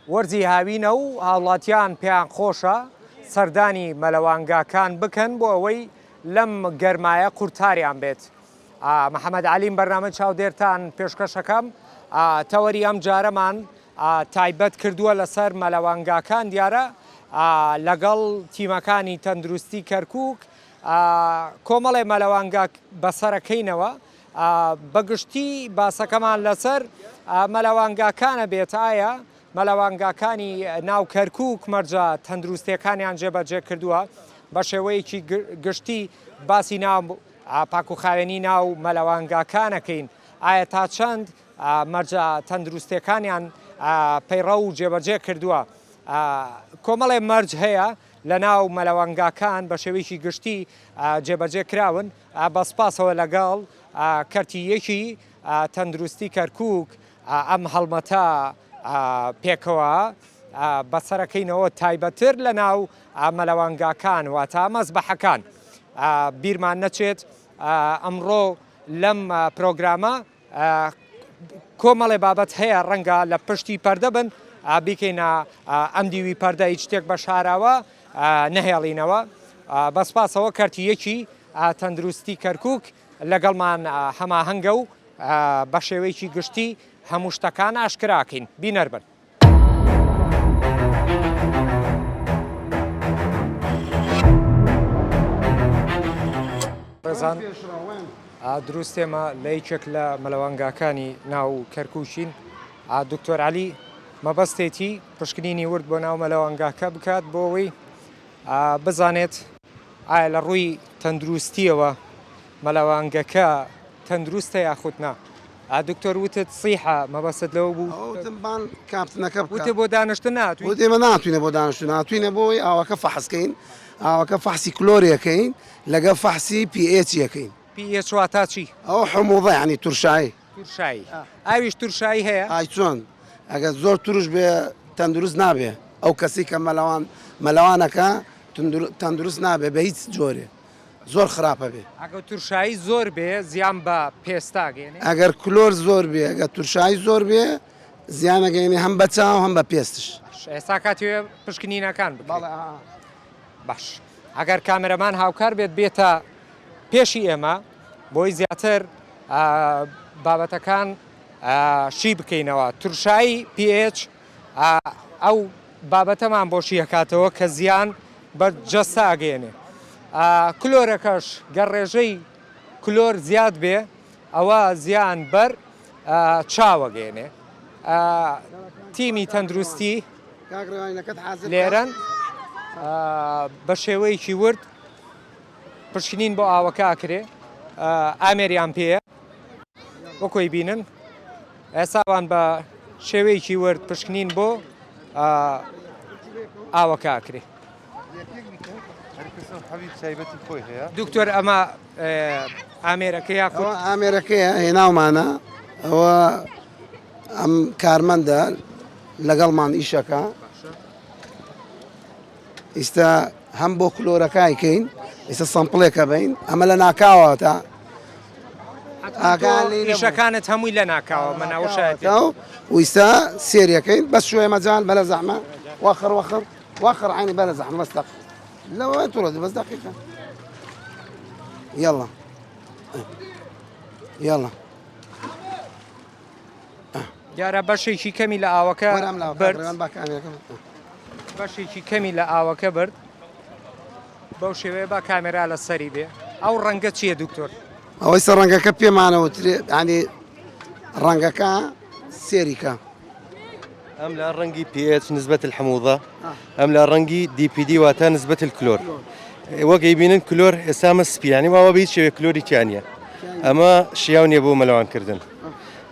وەرزی هاوینە و هاوڵاتیان پێیان خۆشە سەردانی مەلەوانگاکان بکەن بۆ ئەوەی لەم گەرمایە قورتاریان بێت. محەمەد عەلیم بەرنامەی چاودێرتان پێشکەش ئەکەم. تەوەری ئەم جارەمان تایبەت کردووە لەسەر مەلەوانگاکان دیارە لەگەڵ تیمەکانی تەندروستی کەرکووک کۆمەڵێ مەلەوانگا بەسەرەکەینەوە بەگشتی باسەکەمان لەسەر مەلەوانگاکانە بێت، ئایا مەلەوانگاکانی ناو کەرکووک مەرجە تەندروستییەکانیان جێبەجێ کردووە؟ بە شێوەیەکی گشتی باسی ناو پاکوخاوێنی ناو مەلەوانگاکانەکەین، ئایا تا چەند مەرجە تەندروستییەکانیان پەیڕەو و جێبەجێ کردووە؟ کۆمەڵێ مەرج هەیە لە ناو مەلەوانگاکان بە شێوەیەکی گشتی جێبەجێ کراون، بە سپاسەوە لەگەڵ کەرتی یەکی تەندروستی کەرکووک ئەم هەڵمەتە پێکەوە بەسەرەکەینەوە تایبەتر لە ناو مەلەوانگاکان واتا مەزبەحەکان بیرمان نەچێت ئەمڕۆ لەم پرۆگرامە کۆمەڵێ بابەت هەیە ڕەنگە لە پشتی پەردە بن بیکەینە ئەم دیوی پەردە هیچ شتێک بە شاراوە نەهێڵینەوە بە سپاسەوە کەرتی یەکی تەندروستی کەرکک لەگەڵمان هەماهەنگە و بە شێوەیەکی گشتی هەموو شتەکان ئاشکراکەین بینەر بن. ڕێزان دروستێمە لە یەکێک لە مەلەوانگاکانی ناو کەرکوچین دکتۆر علی مەبەستێتی پشکنینی ورد بۆ ناو مەلەوانگاکە بکات بۆەوەی بزانێت ئایا لە ڕووی تەندروستیەوە مەلەوانگەکە تەندروستە یاخود نا؟ ئا دکتۆر وتت صیحە مەبەستت لەوە بوو؟ ئەوە وتم بان کاپتنەکە بکە. وتت بۆ دانشتن ناتوین؟ وت ئێمە ناتوینە بۆ دانشتن هاتوینە بۆی ئاوەکە فەحس کەین ئاوەکە فەحسی کلۆری ئەکەین لەگەڵ فەحسی پی ئێچی ئەکەین. پی ئێچ واتا چی؟ ئەوە حموضە یانی ترشایی. ترشایی ئاویش ترشایی هەیە؟ ئای چۆن ئەگەر زۆر ترش بێ تەندروست نابێ ئەو کەسی کە مەلەوان مەلەوانەکە تەندروست نابێ بە هیچ جۆرێ. زۆر خراپە بێ. ئەگەر ترشایی زۆر بێ زیان بە پێستا گەێنێ؟ ئەگەر کلۆر زۆر بێ ئەگەر ترشایی زۆر بێ زیانە گەێنێ هەم بە چاو هەم بە پێستش. ئێستا کاتی پشکنینەکان بکەڵ باش ئەگەر کامەرەمان هاوکار بێت بێتە پێشی ئێمە بۆی زیاتر بابەتەکان شی بکەینەوە ترشایی پH ئەو بابەتەمان بۆ شی ئەکاتەوە کە زیان بە جەستە ئەگەیەنێ کلۆرەکەش گەر ڕێژەی کلۆر زیاد بێ ئەوە زیان بەر چاوەگەێنێ تیمی تەندروستی لێرەن بە شێوەیەکی ورد پشکنین بۆ ئاوەکە ئاکرێ ئامێریان پێە وەکۆی بینن ئێستا ئەوان بە شێوەیەکی ورد پشکنین بۆ ئاوەکە ئەکرێ. دکتۆر ئەمە ئامێرەکە یا ئامێرەکەیە هێناومانە ئەوە ئەم کارمەندە لەگەڵمان ئیشەکە ئیستا هەم بۆ کلۆرەکای کەین ئیستا سەمپلێکە بین ئەمە لە ناکاوە تا ئاگانیشەکانت هەمووی لە ناکاوە مناوشایەتە و ویستا سێریەکەین بەس شوێ مەجان بەە زەحمە وەخڕ وەخڕ وەخڕ عینی بەە زەحمە بەستە لەوە تۆڵە بەس دقیقە یاڵە یاڵە دیارە بەشێکی کەمی لە ئاوەکە بەشێکی کەمی لە ئاوەکە برد بەو شێوەیە با کامێرا لە سەری بێ ئەو ڕەنگە چییە دکتۆر ئەوەی سە ڕەنگەکە پێمانەوە ئەنی ڕەنگەکە سێریکە ئەم لە ڕەنگی پێچ نسبەت حموضە ئەم لە ڕەنگی دیPD واتە نسبەت کلۆر وەگەی بینن کلۆر ئێسامە سپیانی واوە بیت شێوێ کلۆری تیانە ئەمە شیاو نیە بۆ مەلەوانکردن.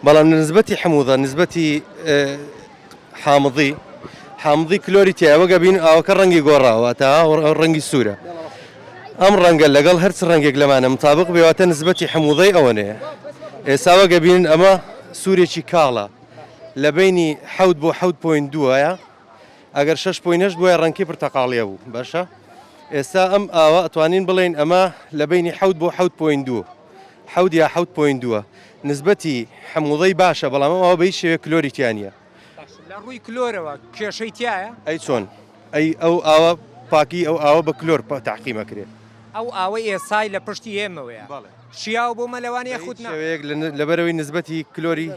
بەڵام لە نسبەتی حموضە نسبەتی حامضی حامضی کلۆری تیا وەگە بین ئاوەکە ڕەنگی گۆڕاوە تا ڕەنگی سوورە ئەم ڕەنگە لەگەڵ هەرچ ڕەنگێک لەمانە مطابق بێواتە نسبەتی حموضەی ئەوەنەیە ئێسا وەگە بین ئەمە سوورێکی کاڵە لە بینی حەوت بۆ حەوت پوین دوایە ئەگەر شش پوینەش بووە ڕەنکی پرتەقاڵیە بوو باشە ئێستا ئەم ئاوە ئەتوانین بڵین ئەمە لە بینی حەوت بۆ حەوت پوین دوو حەوت یا حەوت پۆینت دووە نسبەتی حموضەی باشە بەڵام ئەم ئاوە بە هیچ شێوەیەک کلۆری تیا نییە. باشە لە ڕووی کلۆرەوە کێشەی تیایە؟ ئەی چۆن ئەی ئەو ئاوە پاکی ئەو ئاوە بە کلۆر تەعقیم ئەکرێ. ئەو ئاوەی ئێسای لە پشتی ئێمەوەیە شیاوە بۆ مەلەوان یاخود نا؟ بە هیچ شێوەیەک لەبەرئەوەی نسبەتی کلۆری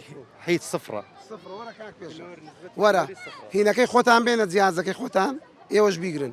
حیت سفرە. سفرە وەرە کاک پێشەوا وەرە هینەکەی خۆتان بێنە جیهازەکەی خۆتان ئێوەش بیگرن.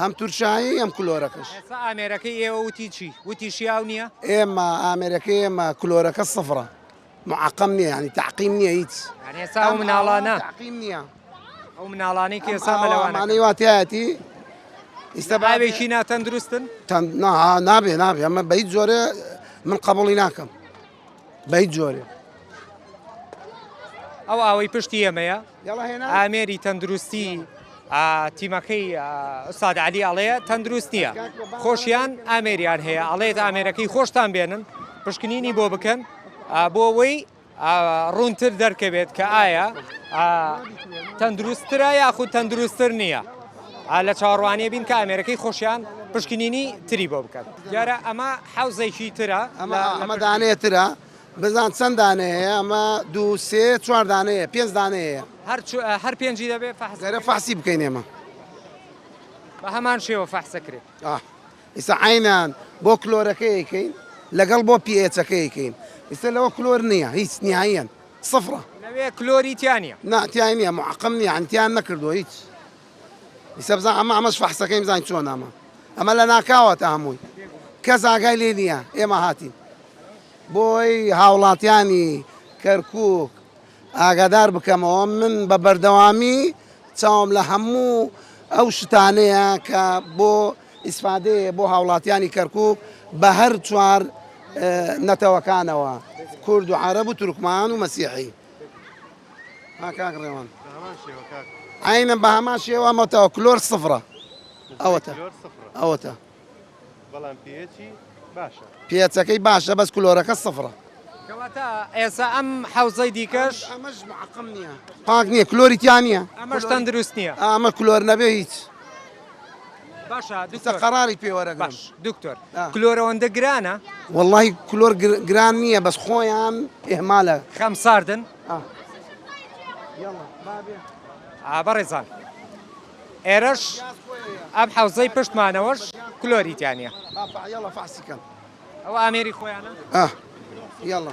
هەم تورشایی هەم کلۆرەکەش ئێستا ئامێرەکەی ئێوە وتی چی وتی شیاو نییە ئێمە ئامێرەکەی ئێمە کلۆرەکە سفرە معقم نییە ینی تعقیم نییە هیچ یعنی ئێستا ئەو مناڵانە تعقیم نییە ئەو مناڵانەی کە ئێستا مەلەوانەکەن. ئەمانەی واتیایەتی ئیستا بابێ- ئاوێکی ناتەندروستن تەند نا نابێ نابێ ئەمە بە هیچ جۆرێ من قبوڵی ناکەم بە هیچ جۆرێ. ئەو ئاوەی پشتی ئێمەیە ئامێری تەندروستی تیمەکەی ئوساد علی ئەڵەیە تەندروست نییە خۆشیان ئامێریان هەیە ئەڵێت ئامێرەکەی خۆشتان بێنن پشکنینی بۆ بکەن بۆ ئەوەی ڕوونتر دەرکەوێت کە ئایا تەندروسترە یاخود تەندروستتر نییە لە چاڕوانێ بین کە ئامێرەکەی خۆشیان پشکنینی تری بۆ بکەن دیارە ئەمە حەوزێکی ترە ئەمە ئەمە دانەیە ترە بزان چەند دانەیە ئەمە دوو سێ چوار دانەیە پێنج دانەیە هەر هەر پێنجی دەبێت فەحزەرە فەحسی بکەین ئێمە بە هەمان شێوە فەحسەکرێت ئیسا عینان بۆ کلۆرەکەیکەین لەگەڵ بۆ پێچەکەیکەین ئیستا لەوە کلۆر نییە هیچ نیایەن سفرە لەوێ کلۆریتیانە ناتیان نیە محقم نیە ئەتیان نەکردو هیچ ئیسە بزان ئەمە ئەمەش فەحسەکەی بزان چۆن ئەمە ئەمە لە ناکاوە تا هەمووی کەس ئاگای لێ نییە ئێمە هاتین بۆی هاوڵاتیانی کەرکک ئاگادار بکەمەوە من بە بەردەوامی چاوم لە هەموو ئەو شتانەیە کە بۆ ئیسفادەیە بۆ هاوڵاتیانی کەرکک بە هەر چوار نەتەوەکانەوە کورد و عرب و تورکمان و مەسیحی ها کاک ڕێوان عینە بە هەمان شێوە مەتەوە کلۆر سفرە ئەوەتە ئەوەتە بەڵام پێچی باشە پێچەکەی باشە بەس کلۆرەکە سفرە کەواتە ئێسا ئەم حوزەی دیکەش ئەمەش معقم نییە پاک نییە کلۆریتیان نییە ئەمەش تەندروست نییە ئەمە کلۆر نەبێ هیچ باشە قەراری پێوەرە باش دکتۆر کلۆرەوەندە گرانە واللهی کلۆر گران نییە بەس خۆیان ئێمالە خەم ساردن بەڕێزان ئێرەش ئەم حەوزەی پشتمانەوەش کلۆری تیانە ئەو ئامێری خۆیانە یاڵە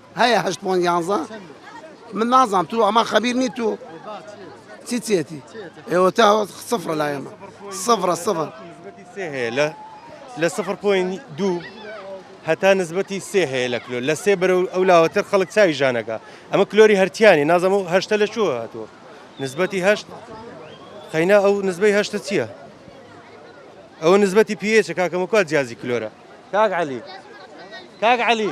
هەیە هەشت پۆنت یانزە من نازام تو ئەمە خەبیر نی تو چی چێتی ئێوە تا سفرە لای ئەمە سفرە سفر لە لە سفر پوین دوو هەتا نسبەتی سێ هەیە لە کلۆ لە سێ بەرە ئەو لاوەتر خەڵک چاوی ژانەکە ئەمە کلۆری هەرتیانی نازەمە و هەشتە لە چوە هاتووە نسبەتی هەشت قەینا ئەو نسبەی هەشتە چییە؟ ئەوە نسبەتی پێچە کاکەمەکوات جیازی کلۆرە کاک علی کاک علی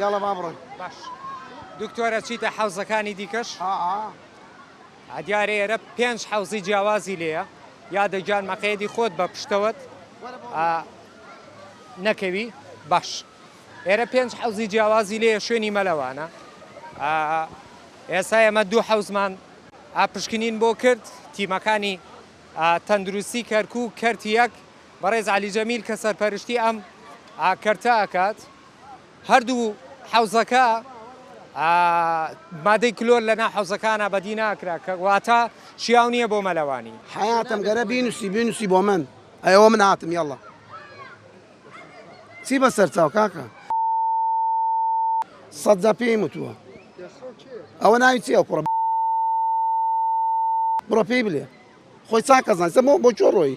یاڵە با بڕۆین باش دکتۆرە چیتە حەوزەکانی دیکەش دیارە ئێرە پێنج حەوزی جیاوازی لێە یادە گیان مەقەیەدی خۆت بە پشتەوەت نەکەوی باش ئێرە پێنج حەوزی جیاوازی لێە شوێنی مەلەوانە ئێستا ئێمە دوو حەوزمان پشکنین بۆ کرد تیمەکانی تەندروستی کەرکک کەرت یەک بەڕێز عەلی جەمیل کە سەرپەرشتی ئەم کەرتە ئەکات، هەردوو حەوزەکە مادەی کلۆر لەناو حەوزەکانا بەدی ناکرا کە واتە شیاو نیە بۆ مەلەوانی. حەیاتم گەرە بینوسی بینوسی بۆ من ئەوە من هاتم یەڵا چی بەسەر چاو کاکە سەد جار پێیم وتووە ئەوە ناوی چی ئەو کوڕە بڕۆ پێی بلێ خۆی چاکەزانسە بۆ بۆ چۆ ڕۆی.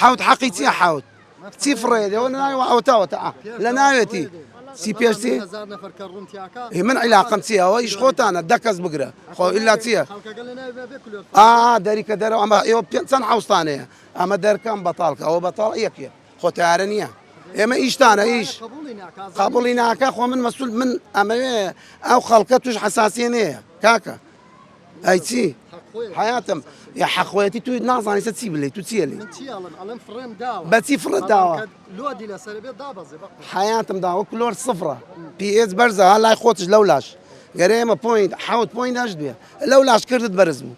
حەوت حەقی چیە حەوت چی فڕێ لەوە ناوە ئەوتاوە تا لە ناوێتی چی پێشتی من عیلاقم چی ئەوە ئیش خۆتانە دەکەس بگرە خۆ ئللا چییە ئا دەریکە دەرەوە ئەمە ئێوە پێ چەند حوستانەیە ئەمە دەرکەم بەتاڵکە ئەوە بەتاڵ یەکێ خۆتارە نییە ئێمە ئیشتانە ئیش قابلی ناکە خۆ من مەسول من ئەمەوێ ئەو خەڵکە توش حساسیە نەیە کاکە ئەی چی حیاتم یا حەخۆیەتی توی نازانی سە چی بلی تو چیە لی بەچی فڕت داوە حیاتم داوە کلۆر سفرە پێز بەرزە ها لای خۆتش لەو لاش گەرێمە پوینت حوت پوین داشت بێ لەو لاش کردت بەرز بوو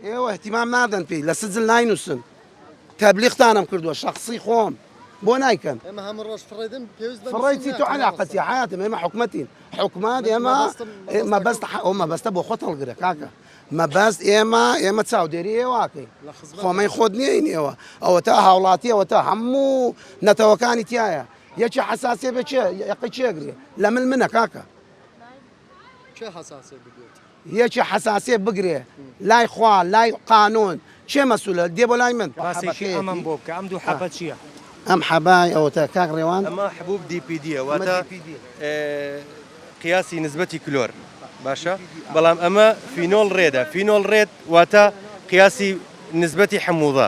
ئێوە اهتمام نادەن پێی لە سجل ناینوسن تەبلیغتانم کردووە شخصی خۆم بۆ نایکەن ئێمە هەموو ڕۆژ فڕێدن پێویست بە فڕی چی تو علاقەتی حیاتم ئێمە حکومەتین حکومات ئێمە مەبەست ئەو مەبەستە بۆ خۆت هەڵگرە کاکە مەبەست ئێمە ئێمە چاودێری ئێواکەین خۆمەی خۆت نیین ئێوە ئەوە تا هاوڵاتی ئەوە تا هەموو نەتەوەکانی تایە یەکی حساسێ بچێ یەقی چێگرێ لە من منە کاکە حساسێ بگوێت یەکێ حەساسێ بگرێ لای خوا لای قانون کێ مەسولە دێ بۆ لای من. باسێکی ئەمەم بۆ بکە ئەم دوو حەبە چیە؟ ئەم حەبای ئەوەتە کاک ڕێوان. ئەمە حبوب DPD یە واتە قیاسی نسبەتی کلۆر باشە بەڵام ئەمە فینۆڵ ڕێدە فینۆڵ ڕێد واتە قیاسی نسبەتی حموضە.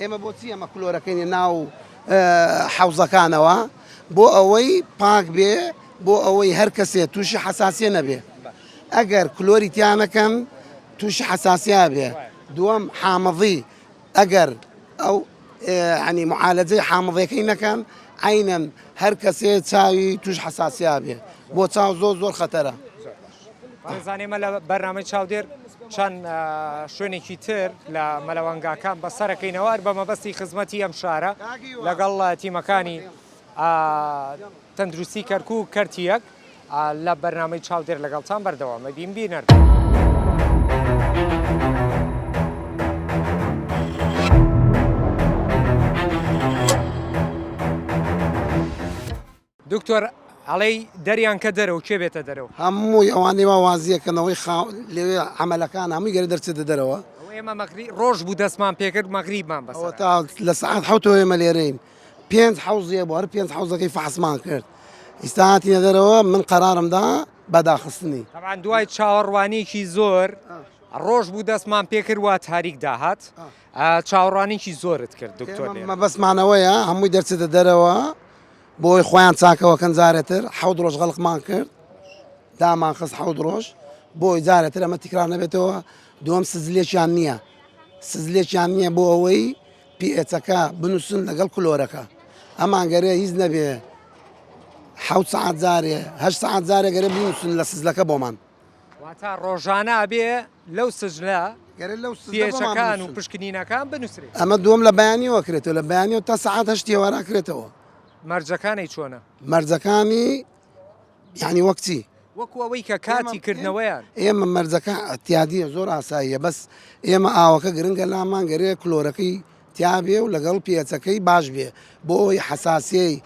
ئێمە بۆچی ئەمە کلۆرەکەینە ناو حەوزەکانەوە بۆ ئەوەی پاک بێ بۆ ئەوەی هەر کەسێ تووشی حساسیە نەبێ ئەگەر کلۆری تیانەکەن تووشی حساسیا بێ دووەم حامەزی ئەگەر ئەو عنی معالەجەی حامەزەکەی نەکەن عینەن هەر کەسێ چاوی توش حساسیا بێ بۆ چاو زۆر زۆر خەتەرە بارزانی ئێمە لە بەرنامەی چاودێر چەند شوێنێکی تر لە مەلەوەنگاکان بەسەرەکەینەوە بە مەبەستی خزمەتی ئەم شارە لەگەڵ تیمەکانی تەندروستی کەرکک و کەرتیەک لە بەرنمەی چاودێر لەگەڵتان بەردەوامە بیم بینەر. دکتۆر ئەڵێی دەریان کە دەرەوە کێ بێتە دەرەوە؟ هەمووی ئەوانەی وا وازیەکەنەوەی خا لەوێ عەمەلەکان هەمووی گەرە دەرچێتە دەرەوە. ئەوە ئێمە مەغری ڕۆژ بوو دەستمان پێ کرد مەغریبمان بەسەر ئەوە تا لە سەعات حەوتەوە ئێمە لێرەین پێنج حەوزێ بۆ هەر پێنج حەوزەکەی فەحسمان کرد ئیستا هاتینە دەرەوە من قەرارم دا بەداخستنی تەبان دوای چاوەڕوانیکی زۆر ڕۆژ بوو دەستمان پێ کرد وا تاریک داهات چاوەڕوانیکی زۆرت کرد دکتۆر مەبەستمانەوەیە هەمووی دەرچێتە دەرەوە بۆی خۆیان چاکەوەکەن جارێتر حەوت ڕۆژ غەڵقمان کرد دامان خست حەوت ڕۆژ بۆی جارێتر ئەمە تیکرار نەبێتەوە دووەم سزلێکیان نییە سزلێکیان نییە بۆ ئەوەی پیئچەکە بنووسن لەگەڵ کلۆرەکە ئەمانگەرێ هیچ نەبێ حەوت سعات جارێ هەشت سعات جارێ گەرە بنووسن لە سزلەکە بۆمان واتا ڕۆژانە ئەبێ لەو سجلە گەرە لەو سجلەکان و پشکنینەکان بنووسرێت ئەمە دووەم لە بەیانیەوە کرێتەوە لە بەیانەوە تا سەعات هەشتی وارا کرێتەوە مەرجەکانی چۆنە مەرجەکانی یعنی وەکچی وەکو ئەوەی کە کاتی کردنەوەیان ئێمە مەرجەکە ئەتیادیە زۆر ئاساییە بەس ئێمە ئاوەکە گرنگە لامان گەرێ کلۆرەکەی تیاابێ و لەگەڵ پێچەکەی باش بێ بۆ ئەوی حساسیەی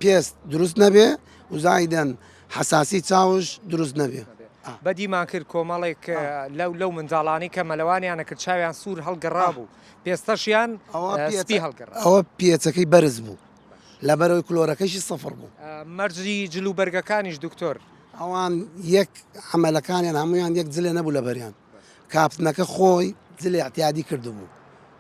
پێست دروست نەبێ وزایدەن حەساسی چاوش دروست نەبێ. بەدیمان کرد کۆمەڵێک لەو لەو منداڵانی کە مەلەوانیانە کرد چاویان سوور هەڵگەڕابوو پێستەشیان سپی هەڵگەڕا ئەوە پێچەکەی بەرز بوو لەبەرەوەی کلۆرەکەشی سەفر بوو مەرجی جل و بەرگەکانیش دکتۆر ئەوان یەک عملەکانیان هەمویان یەک جلێ نەبوو لەبەریان کاپتنەکە خۆی جلێ اعتیادی کردبوو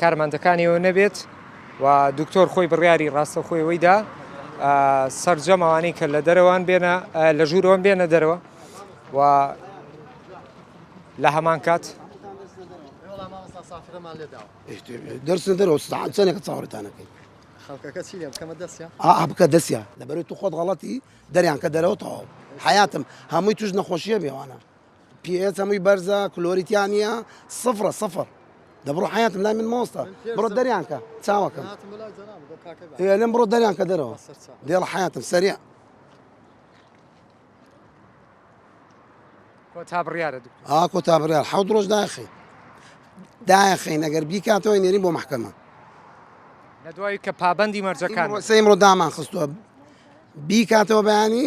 کارمەندەکانیەوە نەبێت و دکتۆر خۆی بڕیاری ڕاستەخۆی ئەوەی دا سەرجەم ئەوانەی کە لە دەرەوەن بێنە لە ژوورەوەن بێنە دەرەوە و لە هەمان کات دەرسە دەرەوە چەندێکە چاوەڕێتانەکەی خەڵکەکە چی لێ بکەمە دەستیان ئا بکە دەستیان لەبەرو تو خۆت غەڵەتی دەریان کە دەرەوە تەواو حیاتم هەمووی توش نەخۆشیە بێوانە پی ئێچ هەمووی بەرزە کلۆری تیا نییە سفرە سفر دەبڕۆ حیاتم لای من مۆستا بڕۆ دەریان کە چاوەکەم لەم بڕۆ دەریان کە دەرەوە دێڵ حیاتم سەریع کۆتا بڕیارە ئا کۆتا بڕیار حەوت ڕۆژ داخی داخی نەگەر بیکاتەوەی نێرین بۆ محکەمە لە دوای کە پابندی مەرجەکان سەیمڕۆ دامان خستووە بیکاتەوە بەیانی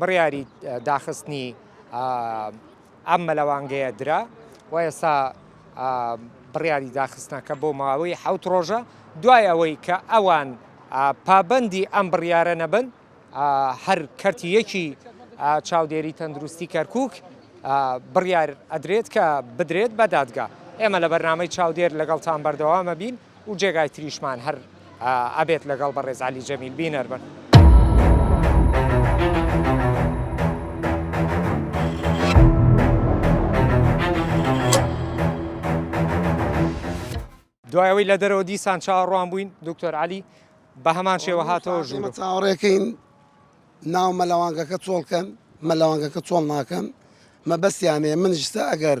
بڕیاری داخستنی ئەم مەلەوانگەیە درا و ئێستا بڕیاری داخستنەکە بۆ ماوەی حەوت ڕۆژە، دوای ئەوەی کە ئەوان پابەندی ئەم بڕیارە نەبن، هەر کەرتی یەکی چاودێری تەندروستی کەرکوک بڕیار ئەدرێت کە بدرێت بە دادگا. ئێمە لە بەرنامەی چاودێر لەگەڵتان بەردەوامەبین. و جێگای تریشمان هەر ئەبێت لەگەڵ بەڕێز عەلی جەمیل بینەر بن. دوایەوەی لە دەرەوە دیسان چاوەڕوان بووین دکتۆر علی بە هەمان شێوە هاتەوە ژوور چاوەڕێکەین ناو مەلەوانگەکە چۆڵکەن مەلەوانگەکە چۆڵ ناکەن مەبەستیانێ من ژستا ئەگەر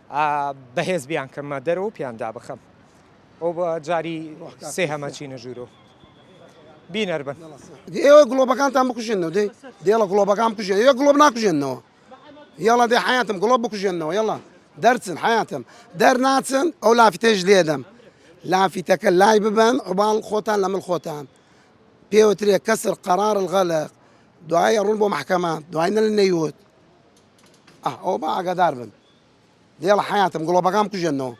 بەهێز بیان کەمە دەرەوە و پیان دابخەم ئەو بە جاری سێ هەمە چینە ژوورۆ بینەر بن ئێوە گڵۆبەکانتان بکوژێنەوە دێ دێڵە گڵۆبەکان بکوژێن ئێوە گڵۆب ناکوژێنەوە یاڵا دێ حیاتم گڵۆب بکوژێنەوە یاڵا دەرچن حیاتم دەرناچن ئەو لافتێش لێدەم لافیتەکە لای ببن عوباڵ خۆتان لە من خۆتان پێوترێ کەسر قەرار الغەلق دوایە ڕوون بۆ محکەمە دوای نە نەیوت ئەو بە ئاگادار بن دێڵە حەیاتم گڵۆپەکام کوژێنەوە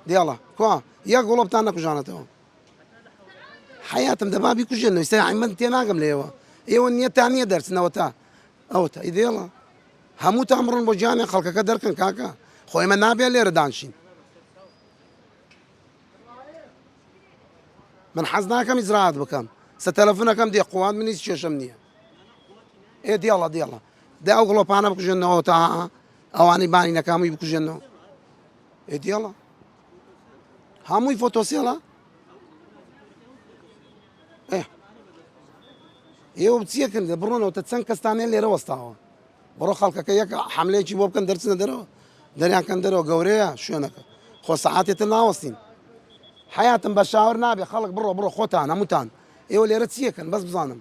دێڵە کوا یە گڵۆپتان نەکوژانەتەوە حەیاتم دەبابی کوژێنەوە سای ئەمەند تێ ناگەم لێەوە ئێوە نییە تا نییە دەرچنەوە تا ئەوە تا ئیدێڵە هەموو تا بڕن بۆ جیانێ خەڵکەکە دەرکەن کاکە خۆی ئمە نابێ لێرە دانشین من حەز ناکەم ئیزراعات بکەم سە تەلەفونەکەم دێ قووان منیش کێشم نییە ئێ دێڵە دێڵە دە ئەو گڵۆپانە بکوژێنەوە تا ئەوانەی بانی نەکامووی بکوژێنەوە ئێدیڵە هەمووی فۆتۆسیڵە ئێوە بچیەکن دە بڕۆنەوە تە چەند کەستانێ لێرە وەستاوە بڕۆ خەڵکەکە یەک حملەیەکی بۆ بکەن دەرچنە دەرەوە دەریانکەن دەرەوە گەورەیە شوێنەکە خۆ سەعاتێتە ناوەستین حیاتم بە شاور نابێ خەڵک بڕۆ بڕۆ خۆتان هەمووتان ئێوە لێرە چیەکەن بەس بزانم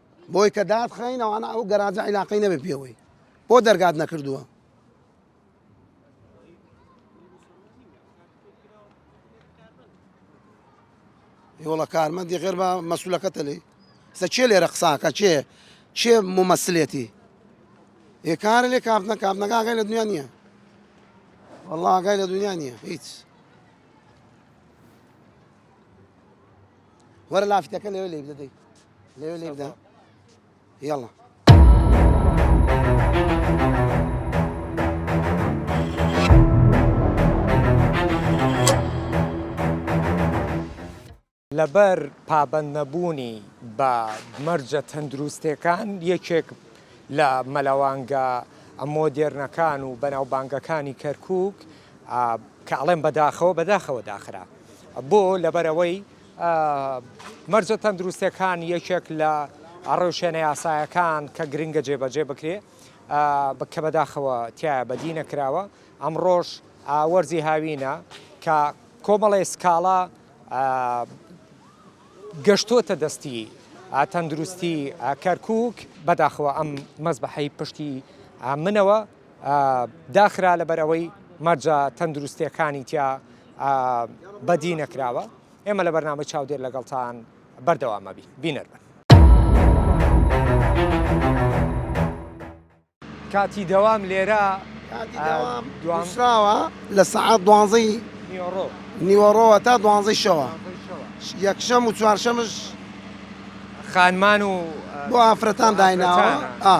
بۆی کە دات خەین ئەوانە ئەو گەراجە عیلاقەی نەبێ پێوەی بۆ دەرگات نەکردووە یۆڵە کارمەندی غێر بە مەسولەکەتە لی سە چێ لێرە قساکە چێ چێ ممەسلێتی ێ کارە لێ کاپنە کاپنەکەگەی لە دنیا نییە وەڵاگای لە دنیا نییە هیچ وەرە لافیتەکە لەوێ لێی بدە دەی لەوێ لێی بدە یاڵە لەبەر پابەند نەبوونی بە مەرجە تەندروستەکان یەکێک لە مەلەوانگە ئەمۆ دێرنەکان و بەناوبانگەکانی کەرکک کە ئەڵێم بەداخەوە بەداخەوە داخرا بۆ لەبەرەوەی مەرجە تەندروستەکان یەکێک لە ڕەوشێنە یاسایەکان کە گرنگە جێبەجێ بکرێ بکە بەداخەوە تیا بەدی نەکراوە ئەمڕۆژ وەرزی هاوینە کە کۆمەڵی سکاڵا گەشتۆتە دەستی تەندروستی کەرکک بەداخەوە ئەم مەزبحەی پشتی منەوە داخرا لەبەر ئەوەی مەرجە تەندروستیەکانی تیا بەدی نەکراوە ئێمە لە بەرنامە چاودێر لەگەڵتان بەردەوامەبی بینەربن. کاتی دەوام لێرە دوامراوە لە سەعات دوانزەی نیوەڕۆ نیوەڕۆوە تا دوانزەی شەوە یەکشەم و چوارشەمش خانمان و بۆ ئافرەتان دایناوە ئا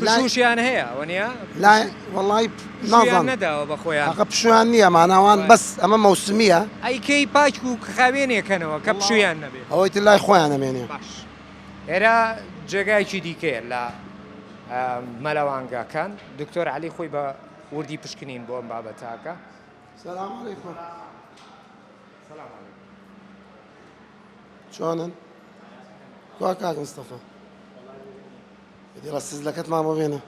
لایشیان هەیە وەنیە لای وڵی نازان نەداوە بە خۆیان ئەقە پشویان نییە ماناوان بەس ئەمە مەوسمیە ئەیکەی پاچ و خاوێنێکەنەوە کە پشویان نەبێت ئەوەی تر لای خۆیان نەمێنێ باش ئێرا جێگایکی دیکەیە لە مەلەوانگاکان دکتۆر علی خۆی بە وردی پشکنین بۆ ئەم بابەتاکە سلام علیکم سلام علیکم جوانن کوا کاک مستەفا دی ڕە سزلەکەت مامە بێنە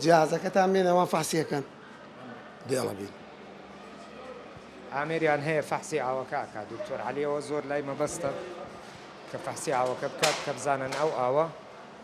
جیازەکەتان بێنەوە فەحسیەکەن دێڵە بین ئامێریان هەیە فەحسی ئاوەکە ئاکا دکتۆر علیەوە زۆر لای مەبەستە کە فەحسی ئاوەکە بکات کە بزانن ئەو ئاوە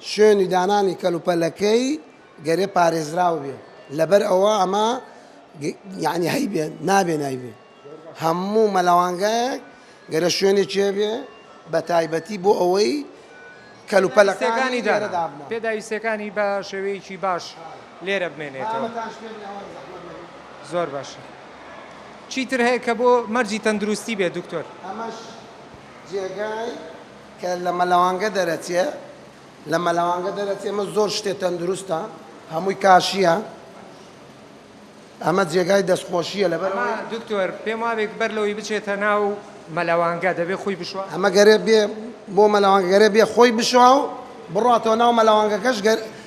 شوێنی دانانی کەلوپەلەکەی گەرێ پارێزراو بێ لەبەر ئەوە ئەمە یعنی هەیبێ نابێ نایبێ هەموو مەلەوانگایەک گەرە شوێنێک چێ بێ بە تایبەتی بۆ ئەوەی کەلوپەلەکانی داردا پێداویستەکانی بە شێوەیەکی باش لێرە بمێنێتەوە زۆر باشە چیتر هەیە کە بۆ مەرجی تەندروستی بێ دکتۆر ئەمەش جێگای کە لە مەلەوانگە دەرەچێ لە مەلەوانگە دەرەچێ ئەمە زۆر شتێ تەندروستە هەمووی کاشییە ئەمە جێگای دەستخۆشییە لەبەر ئەمە دکتۆر پێم وابێک بەر لەوەی بچێتە ناو مەلەوانگە دەبێ خۆی بشوە ئەمە گەرێ بێ بۆ مەلەوانگەرێ بێ خۆی بشوا و بڕاتەوە ناو مەلەوانگەکەش گەر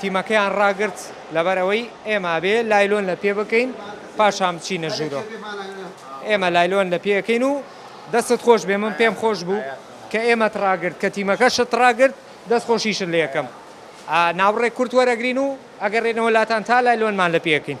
تیمەکەیان ڕاگرت لەبەر ئەوەی ئێمە ئەبێ لایلۆن لە پێ بکەین پاشان بچینە ژوورۆ ئێمە لایلۆن لە پێەکەین و دەستت خۆش بێ من پێم خۆش بوو کە ئێمەت ڕاگرت کە تیمەکە شت ڕاگرت دەست خۆشیشت لە یەکەم ناوڕێک کورت وەرەگرین و ئەگەڕێنەوە لاتان تا لایلۆنمان لە پێەکەین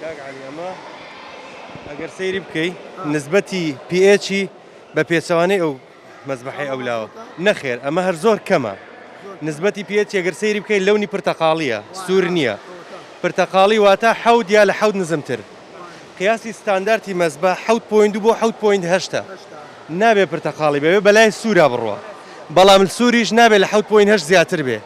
کاک عەلی ئەمە ئەگەر سەیری بکەی نسبەتی پیئێچی بە پێچەوانەی ئەو مەزبەحی ئەو لاوە نەخێر ئەمە هەر زۆر کەمە نسبەتی پیئێچ ئەگەر سەیری بکەی لەونی پرتەقاڵیە سوور نییە پرتەقاڵی واتە حەوت یا لە حەوت نزمتر قیاسی ستاندارتی مەزبە حەوت پوین دوو بۆ حەوت پوین هەشتا نابێ پرتەقاڵی بەوێ بەلای سوورا بڕوە بەڵام سووریش نابێت لە حەوت پوین هەش زیاتر بێ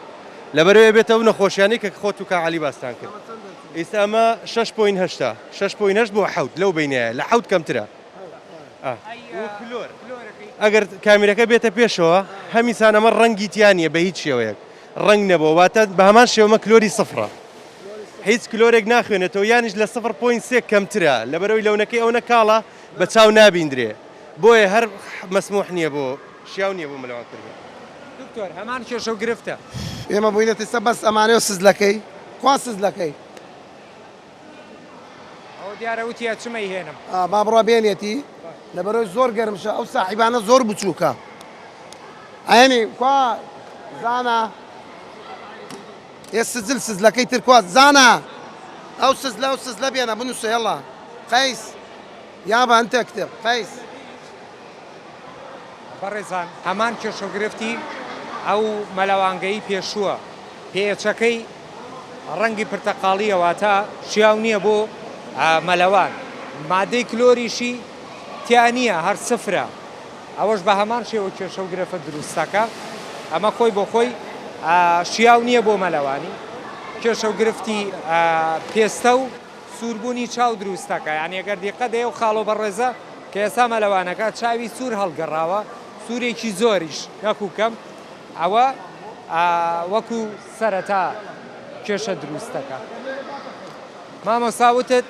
لەبەرەوەیە بێت ئەو نەخۆشیانەی کە خۆت و کاک عەلی باستان کرد. ئەمە چەندە کەمترە؟ ئیستا ئەمە شەش پۆین هەشتا شەش پۆین هەشت بۆ حەوت لەو بەینایە لە حەوت کەمترە. ئەگەر کامیرەکە بێتە پێشەوە هەمیسان ئەمە ڕەنگی تیا نیە بە هیچ شێوەیەک ڕەنگ نەبوە واتە بە هەمان شێوە ئەمە کلۆری سفرە هیچ کلۆرێک ناخوێنێتەوە یانیش لە سفر پۆین سێ کەمترە لەبەرەوەی لەونەکەی ئەونە کاڵە. بە چاو نابیندرێ بۆیە هەر مەسموح نیە بۆ شیاو نیە بۆ مەلەوان کوردی. دکتۆر هەمان کێشەو گرفتە. ئێمە بوینە تستە بەس ئەمانەو سزلەکەی کوا سزلەکەی. ئەوە دیارە وتی ئەچم ئەیهێنم. ئا با بڕوا بێنێتی لەبەرئەوەی زۆر گەرمشە ئەو ساحیبانە زۆر بچوکە ئەیەنی کوا زانا. ئێ سجل سجلەکەی تر کوا زانا ئەو سجلە ئەو سجلە بێنە بنووسە یەڵا قەیس یابا انت اکتب قەیس بەڕێزان هەمان کێشەگرفتی ئەو مەلەوانگەی پێشووە پێچەکەی ڕەنگی پرتەقاڵیە واتە شیاو نییە بۆ مەلەوان مادەی کلۆریشی تیا نییە هەر سفرە ئەوەش بە هەمان شێوە کێشە و گرفت دروست دەکا. ئەمە خۆی بۆ خۆی شیاو نییە بۆ مەلەوانی. کێشە و گرفتی پێستە و سووربوونی چاو دروست دەکا. یانی ئەگەر دیقەت دەی ئەو خاڵۆ بەڕێزە کە ئێستا مەلەوانەکە چاوی سوور هەڵگەڕاوە، سوورێکی زۆریش نەکوو کەم، ئەوە وەکوو سەرەتا کێشە دروست دەکا. مامۆستا وتت.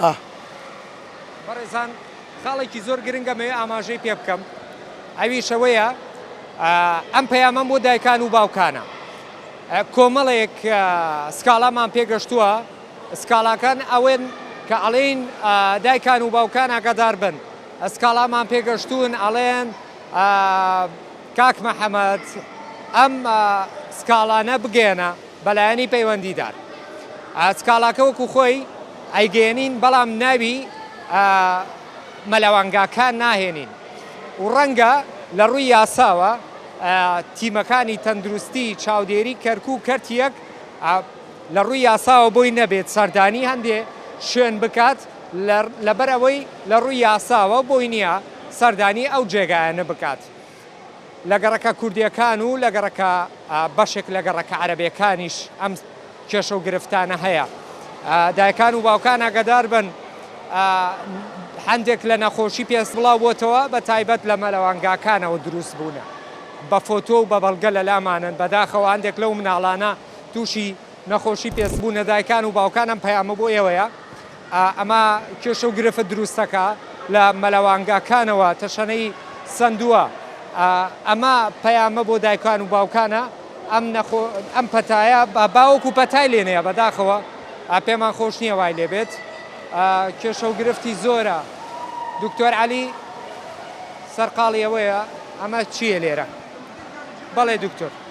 ئاه. بەڕێزان خاڵێکی زۆر گرنگە مەوێ ئاماژەی پێ بکەم ئەویش ئەوەیە ئەم پەیامەم بۆ دایکان و باوکانە کۆمەڵێک سکاڵامان پێگەشتووە سکاڵاکان ئەوێن کە ئەڵێن دایکان و باوکان ئاگادار بن سکاڵامان پێگەشتوون ئەڵێن کاک محەممەد ئەم سکاڵانە بگەێنە بەلایەنی پەیوەندیدار سکاڵاکە وەکو خۆی ئەیگەیەنین بەڵام ناوی مەلەوانگاکان ناهێنین و ڕەنگە لەڕووی یاساوە تیمەکانی تەندروستی چاودێری کەرکوک کەرتی یەک لەڕووی یاساوە بۆی نەبێت سەردانی هەندێ شوێن بکات لەبەرئەوەی لەڕووی یاساوە بۆی نییە سەردانی ئەو جێگایانە بکات. لە گەڕەکە کوردییەکان و لە گەڕەکە بەشێک لە گەڕەکە عەرەبییەکانیش ئەم کێشە و گرفتانە هەیە. دایکان و باوکان ئاگادار بن هەندێک لە نەخۆشی پێست بڵاو بۆتەوە بە تایبەت لە مەلەوانگاکانەوە دروست بوونە. بە فۆتۆ و بە بەڵگە لە لامانن. بە داخەوە هەندێک لەو مناڵانە تووشی نەخۆشی پێست بوونە. دایکان و باوکان ئەم پەیامە بۆ ئێوەیە. ئەمە کێشە و گرفت دروستەکە لە مەلەوانگاکانەوە تەشەنەی سەندووە. ئەمە پەیامە بۆ دایکان و باوکانە ئەم نەخۆ ئەم پەتایە باوک و پەتای لێ نەیە بەداخەوە پێمان خۆش نییە وای لێ بێت کێشە و گرفتی زۆرە دکتۆر عەلی سەرقاڵی ئەوەیە ئەمە چییە لێرە بەڵێ دکتۆر.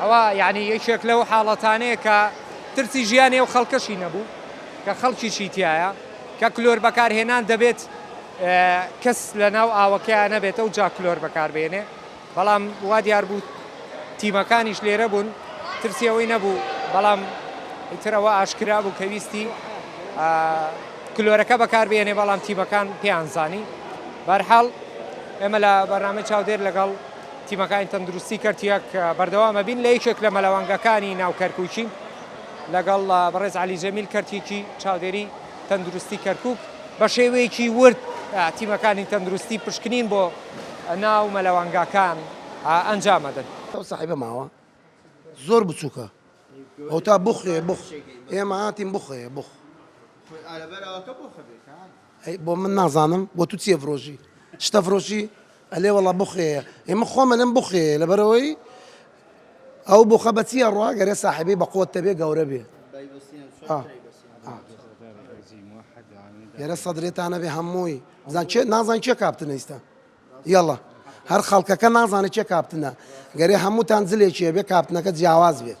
ئەوە یەعنی یەکێک لەو حاڵەتانەیە کە ترسی ژیانی ئەو خەڵکەشی نەبوو کە خەڵکیشی تیایە کە کلۆر بەکارهێنان دەبێت کەس لەناو ئاوەکەیا نەبێت ئەوجا کلۆر بەکاربێنێ بەڵام وا دیار بوو تیمەکانیش لێرە بوون ترسی ئەوەی نەبوو بەڵام ئیتر ئەوە ئاشکرا بوو کە ویستی کلۆرەکە بەکاربێنێ بەڵام تیمەکان پێیان زانی بەرحاڵ ئێمە لە بەرنامەی چاودێر لەگەڵ تیمەکانی تەندروستی کەرتیەک بەردەوام ئەبین لە یەکێک لە مەلەوانگەکانی ناو کەرکوکی لەگەڵ بەڕێز علی جەمیل کەرتیکی چاودێری تەندروستی کەرکک بە شێوەیەکی ورد تیمەکانی تەندروستی پشکنین بۆ ناو مەلەوانگاکان ئەنجام ئەدەن. ئەو سەحیفە ماوە زۆر بچوکە ئەو تا بخوێ بخ ئێمە هاتین بخوێ بخ ئەی بۆ من نازانم بۆ تو چیە فرۆشی شتە فرۆشی ئەلێ وەڵا بوخێیە ئێ من خۆم ئەلێم بوخێیە لەبەرئەوەی ئەو بوخە بە چی ئەڕوا گەرێ ساحێبی بە قوەت تەبێ گەورە بێ گەرە سەدرێتانە بێ هەمووی بزان چێ نازان چێ کاپتنە ئیستا یەڵا هەر خەڵکەکە نازانێت چێ کاپتنە گەرێ هەمووتان زلێکیە بێ کاپتنەکە جیاواز بێت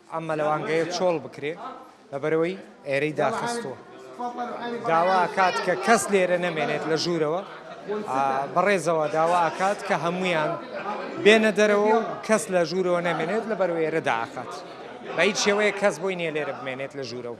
ئەم مەلەوانگەیە چۆڵ بکرێ لەبەرئەوەی ئێرەی داخستووە داوا ئەکات کە کەس لێرە نەمێنێت لە ژوورەوە بەڕێزەوە داوا ئەکات کە هەمویان بێنە دەرەوە و کەس لە ژوورەوە نەمێنێت لە بەرو ئێرە داخات بە هیچ شێوەیە کەس بۆی نیە لێرە بمێنێت لە ژوورەوە.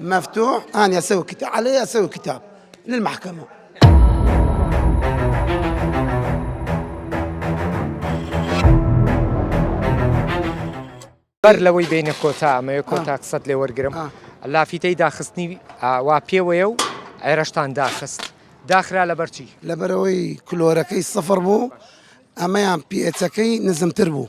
مفتوح انا اسوي كتاب علي اسوي كتاب للمحكمه بەر لەوەی بینە کۆتا ئەمەیە کۆتا قسەت لێ وەرگرم لافیتەی داخستنی وا پێوەیە و عێرەشتان داخست داخرا لە بەرچی لەبەرەوەی کلۆرەکەی سەفر بوو ئەمەیان پێچەکەی نزمتر بوو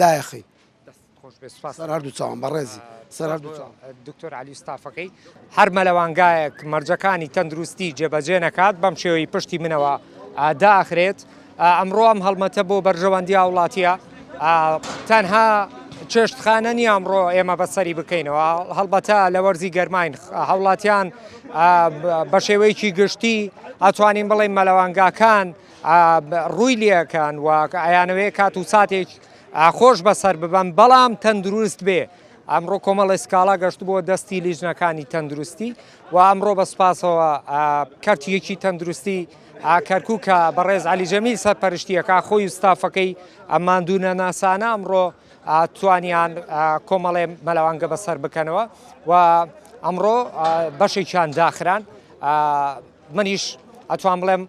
دایەخەی سەر هەردوو چاوان بەڕێزی سەر هەردوو چاوان دکتۆر علی ستافەکەی هەر مەلەوانگایەک مەرجەکانی تەندروستی جێبەجێ نەکات بەم شێوەی پشتی منەوە داخرێت ئەمڕۆ ئەم هەڵمەتە بۆ بەرژەوەندی هاوڵاتیە تەنها چێشتخانە نیە ئەمڕۆ ئێمە بەسەری بکەینەوە هەڵبەتە لە وەرزی گەرماین هاوڵاتیان بە شێوەیەکی گشتی ئەتوانین بڵێن مەلەوانگاکان ڕووی لێکەن و ئەیانەوێ کات و ساتێک خۆش بەسەر ببەن بەڵام تەندروست بێ ئەمڕۆ کۆمەڵی سکاڵا گەشت بۆ دەستی لیژنەکانی تەندروستی و ئەمڕۆ بە سپاسەوە کەرتیەکی تەندروستی کەرکووکە بەڕێز علی جەمیل سەرپەرشتیەکە خۆی و ستافەکەی ئەماندونە ناسانە ئەمڕۆ توانیان کۆمەڵێ مەلەوانگە بەسەر بکەنەوە و ئەمڕۆ بەشێکیان داخران منیش ئەتوان بڵێم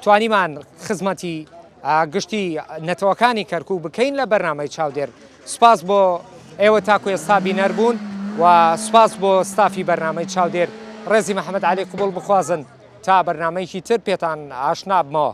توانیمان خزمەتی گشتی نەتەوەکانی کەرکوو بکەین لە بەرنمەی چاودێر سپاس بۆ ئێوە تاکو ئێستا بینەر بوون و سپاس بۆ ستافی بەرنمەی چاودێر ڕێزی محەممەد علی قوبڵ بخوازن تا بەرنمەیەکی تر پێتان ئاشنابمەوە.